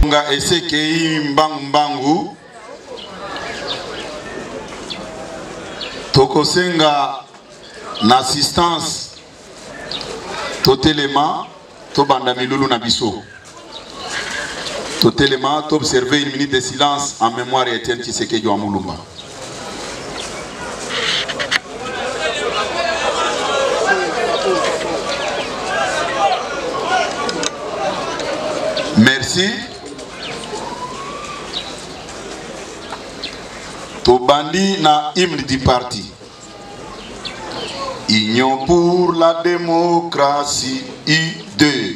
nga esekei mbangu mbangu tokosenga na assistance totelema tobanda milulu na biso Totelema, to observer une minute de silence en mémoire ya Etienne Tshisekedi wa Mulumba. Merci. Tobandi na hymne du parti. Union pour la démocratie, U2.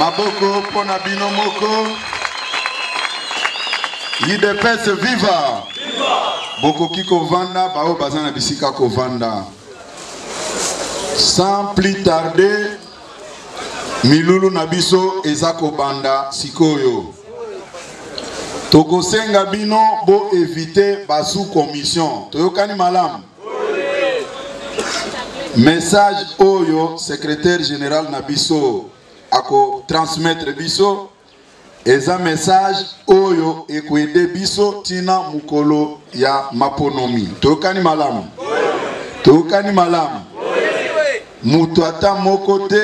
maboko mpo na bino moko idps viva bokoki kovanda baoyo baza na bisika kovanda sans plus tarder milulu na biso eza kobanda sikoyo tokosenga bino boevite basu commission toyokani malamu message oyo secrétaire général na biso ako transmettre biso eza message oyo ekoede biso tina mokolo ya maponomi toyokani malamu toyokani malamu moto ata moko te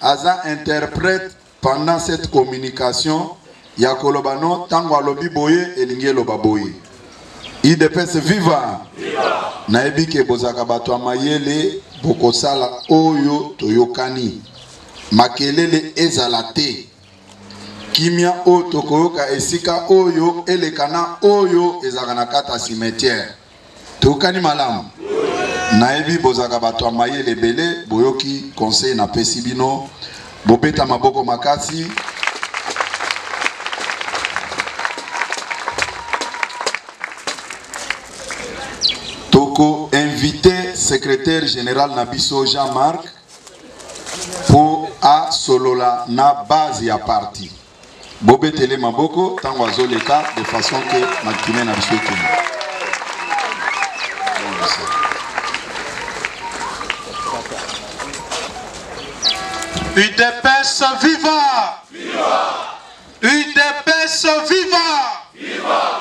aza interprète Pendant cette communication ya koloba no tango alobi boye elingi eloba boye udps viva nayebi ke bozalaka bato ya mayele bokosala oyo toyokani makelele ezala te kimia oyo tokoyoka esika oyo eleka na oyo ezalaka na kati ya cimetière Toyokani malamu? Nayebi bozalaka bato ya mayele ebele, boyoki conseil napesi bino. Bobeta maboko makasi. Toko inviter secrétaire général na biso Jean-Marc mpo asolola na base ya parti. Bobetele maboko tango azo leka de façon que maquine na biso ekende. UDPS viva! Viva! UDPS viva! Viva!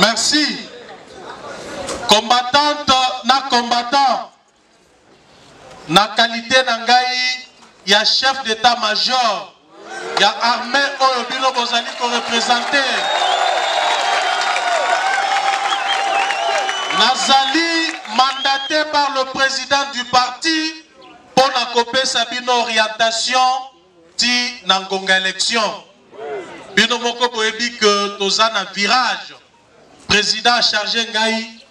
merci combattante na combattant na qualité na ngai ya chef d'état major ya arme oyo bino bozali korepresente nazali mandate par le président du parti mpo na kopesa bino orientation ti na ngonga élection bino moko boyebi que toza na virage président charge ngai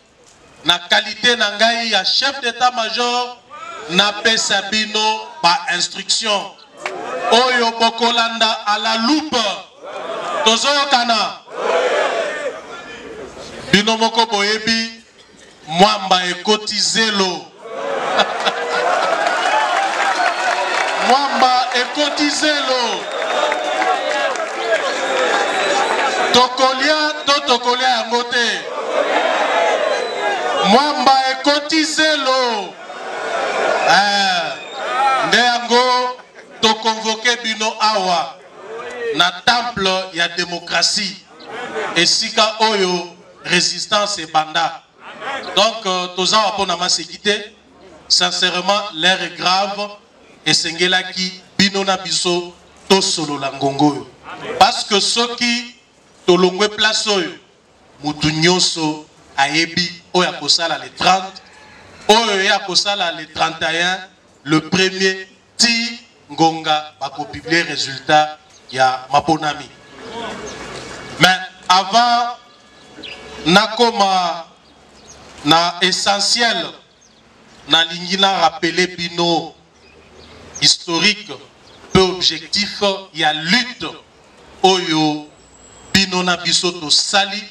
Na qualite na ngai ya chef d'etat major, napesa bino ba instructions oyo bokolanda à la loupe. Tozoyokana? Bino moko boyebi mwamba ekoti zelo. Mwamba ekoti zelo. Tokolia to tokolia yango te. Mwamba ekoti zelo. Eh, nde yango tokonvoke bino awa na temple ya demokrasi esika oyo resistance ebanda. Donc euh, toza wa pona maseki te. Sincèrement, l'heure est grave et sengelaki bino na biso to solo la ngongo. Parce que ceux qui tolongwe place oyo mutu nyoso ayebi oyo akosala le 30 oyo ye akosala le 31 le premier Tii ngonga ba ko publier resultat ya maponami. Mais avant nakoma na essentiel, nalingi na rappeler bino historique mpe objectif ya lutte oyo bino na biso tosali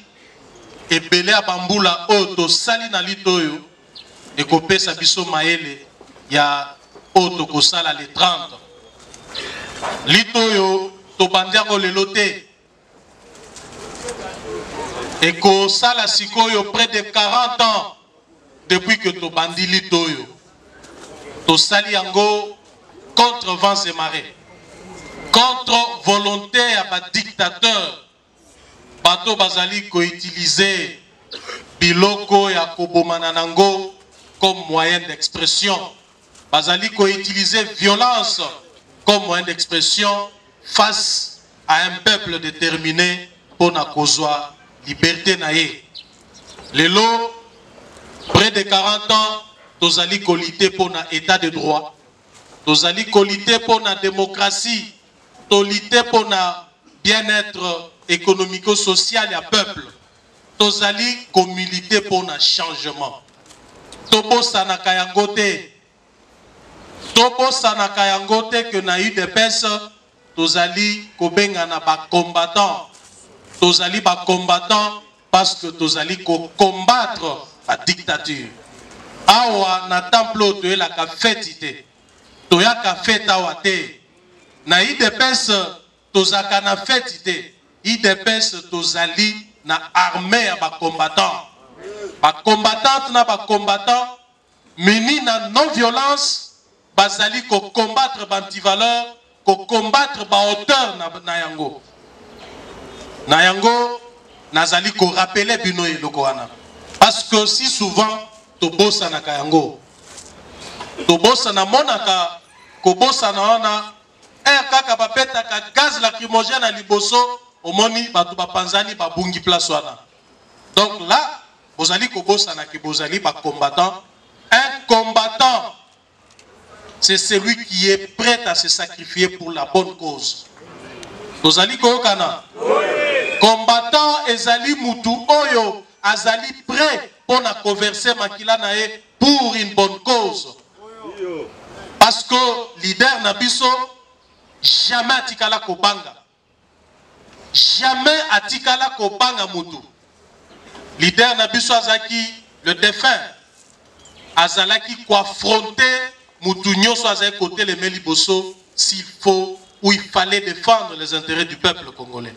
ebele ya ba mbula oyo tosali na lutte oyo. ekopesa biso mayele ya oyo tokosala le 30 lite oyo tobandi yango lelo te ekosala sikoyo près de 40 ans depuis que tobandi lite oyo tosali yango contre vents et marais contre volonté ya badictateur Bato bazali ko utiliser biloko ya kobomana na ngo comme moyen d'expression. Bazali ko utiliser violence comme moyen d'expression face à un peuple determine pona kozwa liberte na ye. Lelo près de 40 ans tozali ko lutter pona etat de droit, tozali ko lutter pona democratie Toli te mpo na bien etre economico social ya peuple. Tozali ko militer mpo na changement. Tobosanaka yango te. Tobosanaka yango te que na udps tozali kobengana ba combattants. Tozali ba combattants parce que tozali ko combattre ba dictatures. Awa na temple oyo toyelaka feti te. Toyaka fete awa te. Na udps tozalaka na feti te. Udps tozali na armee ya ba combattants. Ba combattantes na ba combattants munis na non violence bazali ko combattre ba antivaleurs ko combattre ba auteurs na, na yango na yango nazali ko rappeler bino eloko wana parce que si souvent tobosanaka yango tobosana monaka kobosana wana ere eh, kaka babetaka gaz lacrymogène na liboso omoni bato bapanzani babungi place wana donc là bozali kobosana ke bozali bacombattant un combattant c'est celui qui est pret à se sacrifier pour la bonne cause tozali koyokana combattant ezali mutu oyo azali pret mpo na koverse makila na ye pour une bonne cause parce que leader na biso jamais atikala kobanga Jamais atikala kobanga mutu. Leader na biso azalaki le defunt azalaki ko affronter mutu nyoso azalaki koteleme liboso s'il faut ou il fallait defendre les interets du peuple congolais.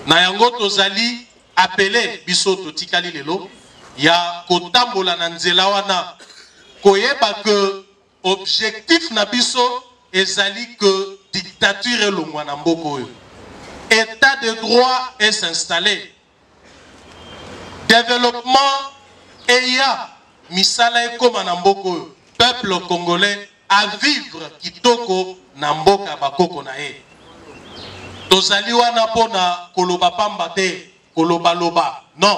Na yango tozali appeler biso totikali lelo ya kotambola na nzela wana koyeba que Objectif na biso ezali que dictature elongwa na mboka oyo. Etat de droit est s'installer. Developpement eya, misala ekoma na mboka oyo. Peuple congolais a vivre kitoko na mboka ya bakoko na ye. Tozali wana mpo na koloba pamba te, koloba loba. Non.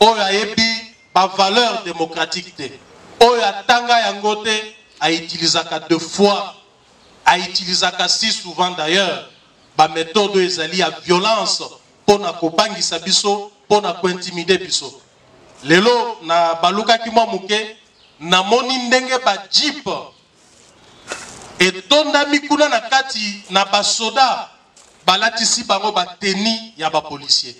Oyo ayebi ba valeurs democratiques te, oyo atanga yango te, a utilisaka de fois, a utilisaka si souvent d'ailleurs ba methodes oyo ezali ya violence mpo na kobangisa biso, mpo na ko intimider biso. Lelo na balukaki mwa moke, namoni ndenge ba jeep etondami kuna na kati na basoda balatisi bango ba tenue ya ba policiers.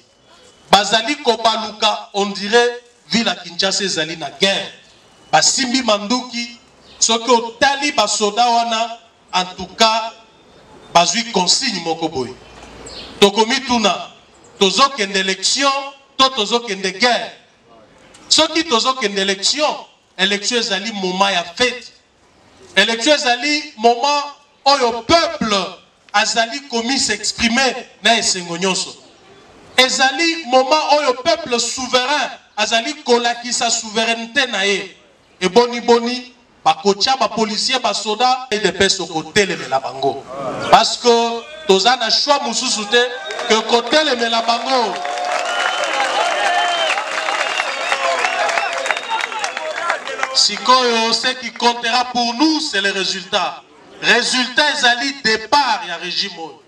bazali kobaluka on dirait ville ya Kinshasa ezali na guerre basimbi manduki soki otali ba soda wana en tout cas bazui consigne moko boye tokomituna tozokende election to tozokende guerre soki tozokende election election ezali moment ya fete Election ezali moment oyo peuple azali komi s'exprimer na esengo nyonso. Ezali moment oyo peuple souverain azali kolakisa souveraineté na ye. Eboni boni bakotya ba policiers ba soda udps okotelemela bango parce que Toza na choix mususu te que kotelemela bango. Sikoyo ce qui comptera pour nous c'est le résultat. Résultat ezali départ ya régime oyo.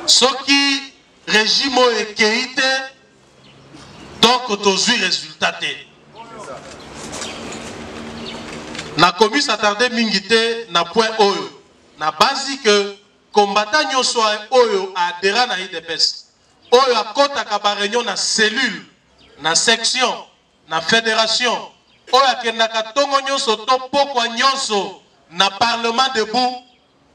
Soki régime oyo ekei te donc tozwi résultat te. nakomi s'attarde mingi te na point oyo nabanzi ke Combattant nioso oyo a adhera na udps, oyo akotaka ba reunion na cellule, na section, na federation, oyo akendaka tongo nionso to pokwa nionso na parlement debout,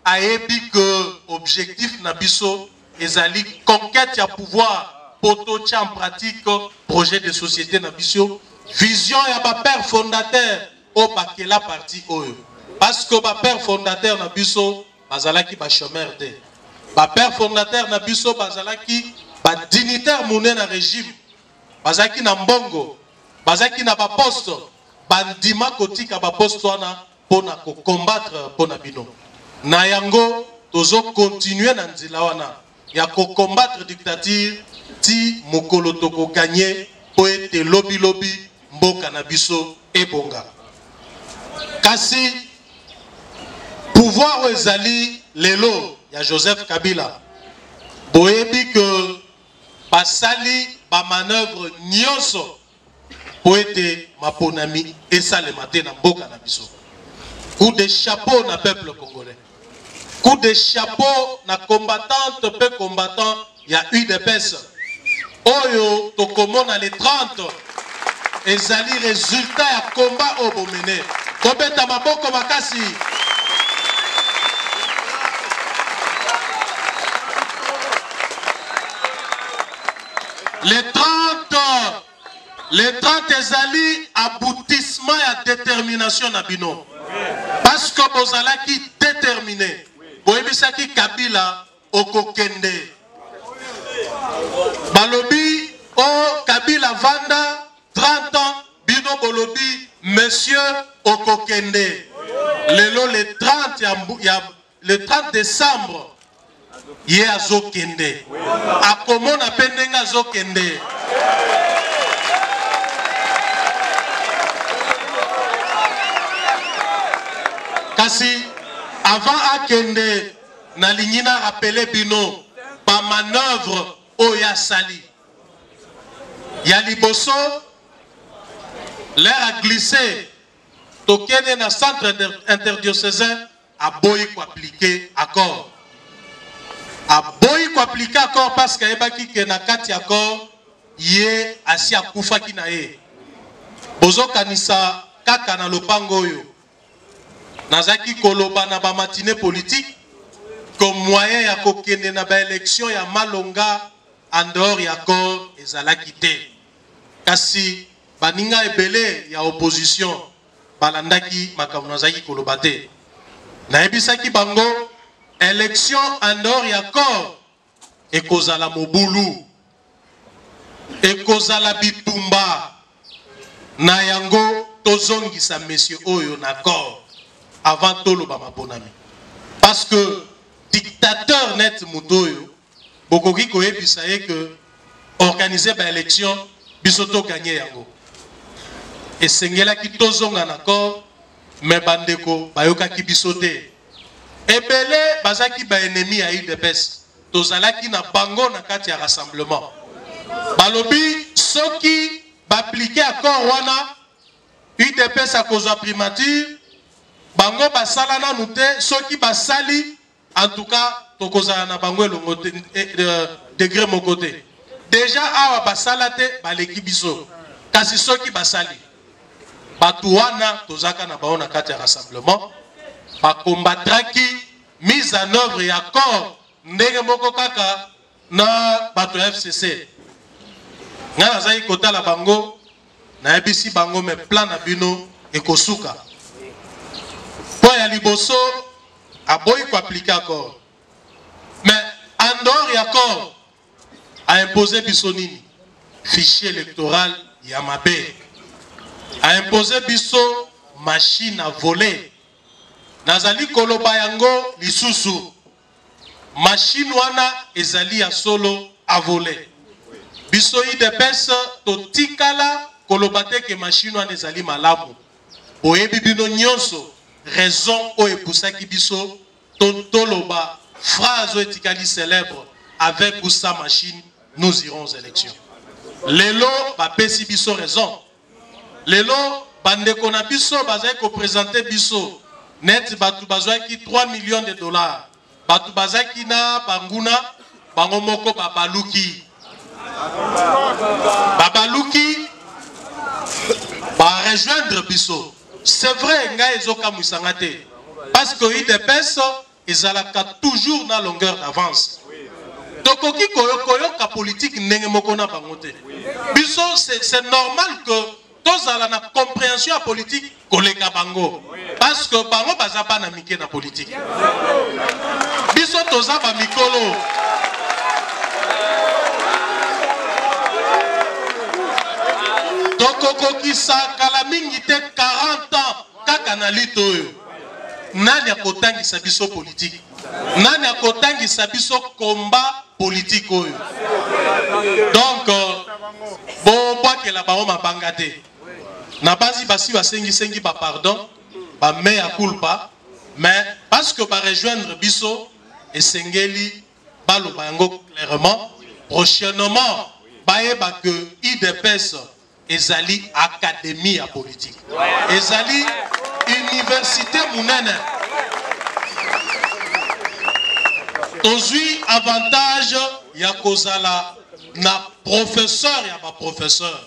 ayebi que objectif na biso ezali conquete ya pouvoir mpo totia en pratique projet de societe na biso, vision ya ba pères fondateurs oyo bakela parti oyo. Parce que ba pères fondateurs na biso. bazalaki ba chomeurs te. Ba pères fondateurs na biso bazalaki ba dignitaires mune na regime, bazalaki na mbongo, bazalaki na ba postes, bandima kotika ba postes wana mpo na ko combattre mpo na bino. Na yango tozo continuer na nzela wana. ya ko combattre dictature ti mokolo toko gagne po ete lobi lobi mboka na biso ebonga kasi pouvoir oyo ezali lelo ya Joseph Kabila boyebi que basali ba manœuvre nyonso mpo ete maponami esalema te na mboka na biso. Coup de chapeau na peuple congolais. Coup de chapeau na combattante mpe combattant ya UDPS oyo tokomona le 30 ezali resultat ya combat oyo bomene. Tobeta maboko makasi. Le 30, le 30 ezali aboutissement ya determination na bino. Parce que bozalaki determine. Boyebisaki Kabila okokende. Balobi o oh, Kabila vanda 30 ans bino bolobi monsieur okokende. Lelo le 30 ya, ya Le 30 decembre ye azokende akomona mpe ndenge azokende kasi avant akende nalingi na rapele bino bamanoeuvre oyo asali ya liboso l'air a glisse tokende na centre interdiocesain aboyi ko appliquer accord aboyi ko appliquer accord parce que ayebaki que na kati ya accord ye asi akufaki na ye bozokanisa kaka na lopango oyo nazalaki koloba na bamatine politike ko moyen ya kokende na baelektio ya malonga en dehors ya accord ezalaki te kasi baninga ebele ya opposition balandaki makambo nazalaki koloba te. Nayebisaki bango election en dehors ya corps ekozala mobulu, ekozala bitumba. Na yango tozongisa monsieur oyo na corps avant toloba maponami parce que dictateur net moto oyo Bokoki koyebisa ye que organiser ba elections biso to gagner yango. Esengelaki tozonga na corps mais ba ndeko bayokaki biso te. Ebele bazaki ba ennemis ya udps tozalaki na bango na kati ya rassemblement. Balobi soki ba appliquer accord wana udps akozwa primature bango basala nanu te soki basali En tout cas, tokozala na bango elongo te eh, euh, degre moko te. Deja awa basala te baleki biso, kasi soki basali bato wana tozaka na bango na kati ya rassemblement bakombatraki mise en œuvre ya accord ndenge moko kaka na bato ya fcc ngai nazalaki kotala bango nayebisi bango me plan na bino ekosuka mpo ya liboso aboyi koaplike accord me andor ya accord aimpose biso nini fichier électoral ya mabe aimpose biso machine à voler nazali koloba yango lisusu Machine wana ezali ya solo a vole. Biso udps totikala koloba te que machine wana ezali malamu. Boyebi bino nyonso raison oyo epusaki biso toloba phrase oyo etikali célèbre avec ou sans machine nous irons aux élections. Lelo bapesi biso raison. Lelo ba ndeko na biso bazali ko presenter biso neti batu bazuaki 3 millions de dollars. Batu bazaki na ba nguna bango moko ba baluki. Ba baluki ba rejoindre biso. C'est vrai ngai ezo kamwisa nga te. Parce que udps ezalaka toujours na longueur d'avance tokoki koyoka politique ndenge moko na bango te biso c'est normal que tozala na compréhension ya politique koleka bango parce que bango baza bana mike na politique biso toza bamikolo tokokokisa kala mingi te 40 ans Kaka na lutte oyo nani akotangisa biso politique? Nani akotangisa biso combat politique oyo? Donc bobwakela bango mabanga te. Na basi basi basengi sengi ba pardon, ba mea culpa, mais parce que ba rejoindre biso esengeli baloba yango clairement prochainement bayeba que idps Ezali academie ya politique. Ezali universite munene. Tozui avantage ya kozala na professeur ya ba professeur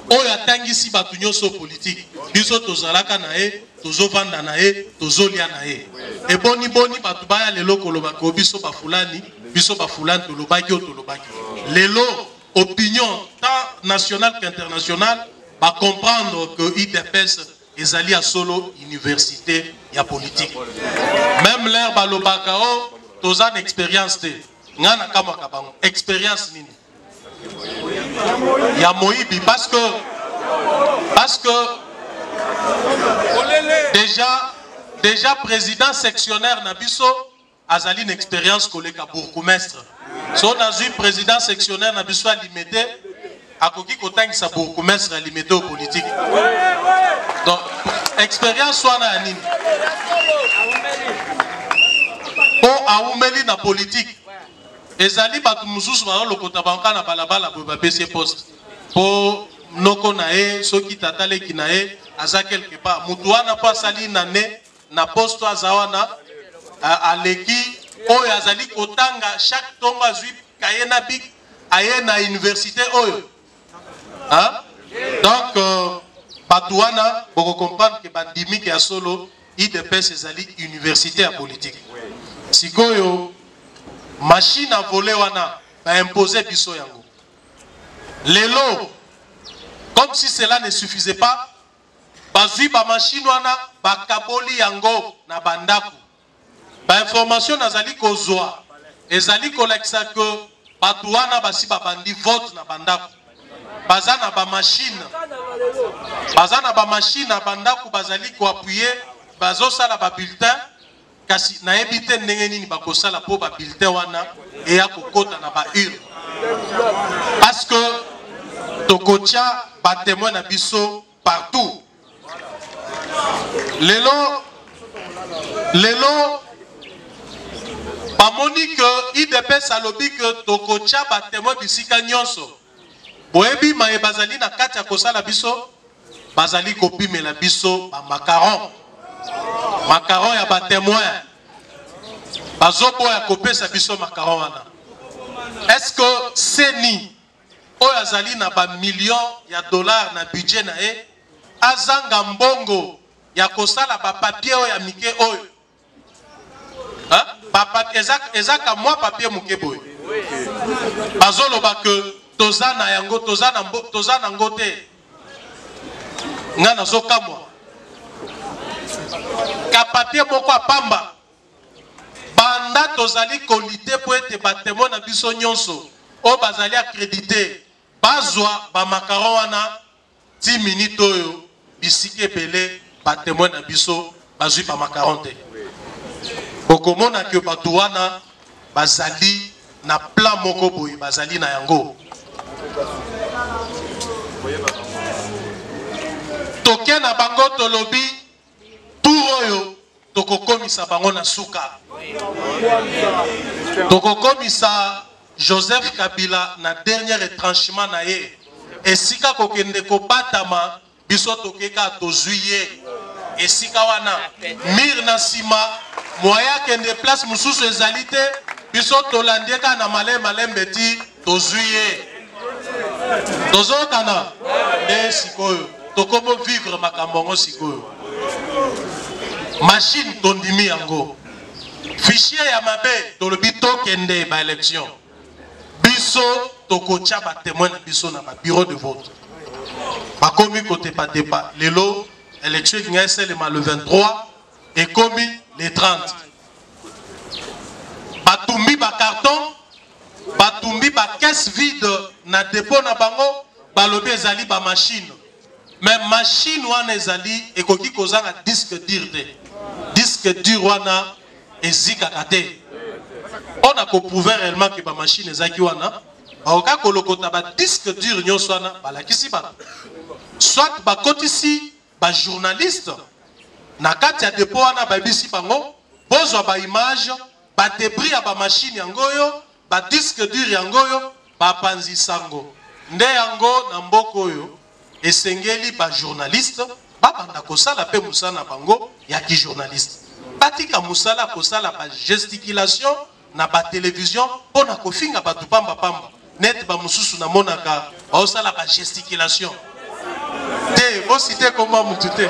oyo atangisi bato nyonso politike biso tozalaka na ye tozovanda na ye tozolia na ye eboniboni bato baya lelo koloba ko biso bafulani biso bafulani tolobaki oyo tolobaki lelo opinion tant nationale qu'internationale ba comprendre que udps ezali ya solo universite ya politique meme leur balobaka o oh, toza na experience te ngai nakamwaka bango experience nini ya moyibi parce que parce que déjà déjà président sectionnaire na biso azali na experience koleka bourgoumestre soki nazwi president sectionnaire na biso ya limete akoki kotangisa bourgoumestre ya limete oyo politike donc experience wana ya nini mpo awumeli na politike ezali bato mosusu bazolokota bango kaka na balabala boye bapesi ye poste mpo noko na ye soki tata leki na ye aza quelque part moto wana mpo asali na ne na poste aza wana euh, aleki oyo azali kotanga chaque tongo azwi kaye na bik aye na université oyo hein? donc euh, bato wana bokocomprendre ke bandimi ke ya solo idps ezali université ya politike sikoyo mashine a vole wana baimpose biso yango lelo comme si cela ne suffisait pas Bazui ba machine wana bakaboli yango na ba ndaku. Ba information nazali kozua ezali kolakisa que batu wana basi babandi vote na ba ndaku. Baza na ba machine. Baza na ba machine na ba ndaku bazali ko appuyer bazosala ba bulletins Kasi, nayebi te ndenge nini bakosala po ba bulletins wana eya kokota na ba urnes. Parce que tokotia ba temoins na biso partout. Lelo, lelo bamoni que udps alobi que tokotia ba temoins bisika nionso. Boyebi maye bazali na kati ya kosala biso? Bazali kopimela biso ba macarons. Macarons ya ba temoins. Bazoboya kopesa biso macarons wana. Est-ce que CENI oyo azali na ba millions ya dollars na budget na ye azanga mbongo ya kosala ba papiers oyo ya mike oyo Papa eza eza ka mwa papier muke boye bazo loba que toza na yango toza na mbo toza na ngo te nga nazo kamwa ka papier moko ya pamba banda tozali kolite mpo ete batemo na biso nyonso oyo bazali akredite bazwa bamakaron wana Ti minute oyo bisika ebele ba temoins na biso bazui ba macarons te. Bokomona que batu wana bazali na plan moko boye bazali na yango. Toke na bango tolobi Tour oyo tokokomisa bango na suka. Tokokomisa Joseph Kabila na dernier retranchement na ye. Esika kokende kobatama biso toke ka tozui ye. Esika wana mur na sima moyen akende place mosusu ezali te biso tolandi ye ka na malembe malembe ti tozui ye tozokana nde sikoyo tokomo vivre makambo yango sikoyo machine tondimi yango fichier ya mabe tolobi tokende ba élection biso tokotya batemoin na biso na babureau de vote bakomi kotepatepa lelo élection elinga esalema le 23 ekomi le 30 batumbi bacarton Batumbi ba caisse vide na depot na bango balobi ezali ba machine mais machine wana ezali ekoki kozanga disque dur te disque dur wana ezikaka te mpo na koprouve réellement ke bamashine ezalaki wana bakoka kolokota badisque dure nyonso wana balakisi bato soit bakotisi bajournaliste na kati ya depo wana bayebisi bango bozwa baimage Ba debris ya ba machines yango oyo, ba disques durs yango oyo, ba panzi sango. Nde yango na mboka oyo esengeli ba journalistes ba banda kosala pe mosala na bango ya ki journaliste. Batika mosala ya kosala ba gesticulations na ba televisions pona kofinga batu pamba pamba. Neti ba mosusu namonaka baosala ba gesticulations. Te, bo citer kombo ya mutu te.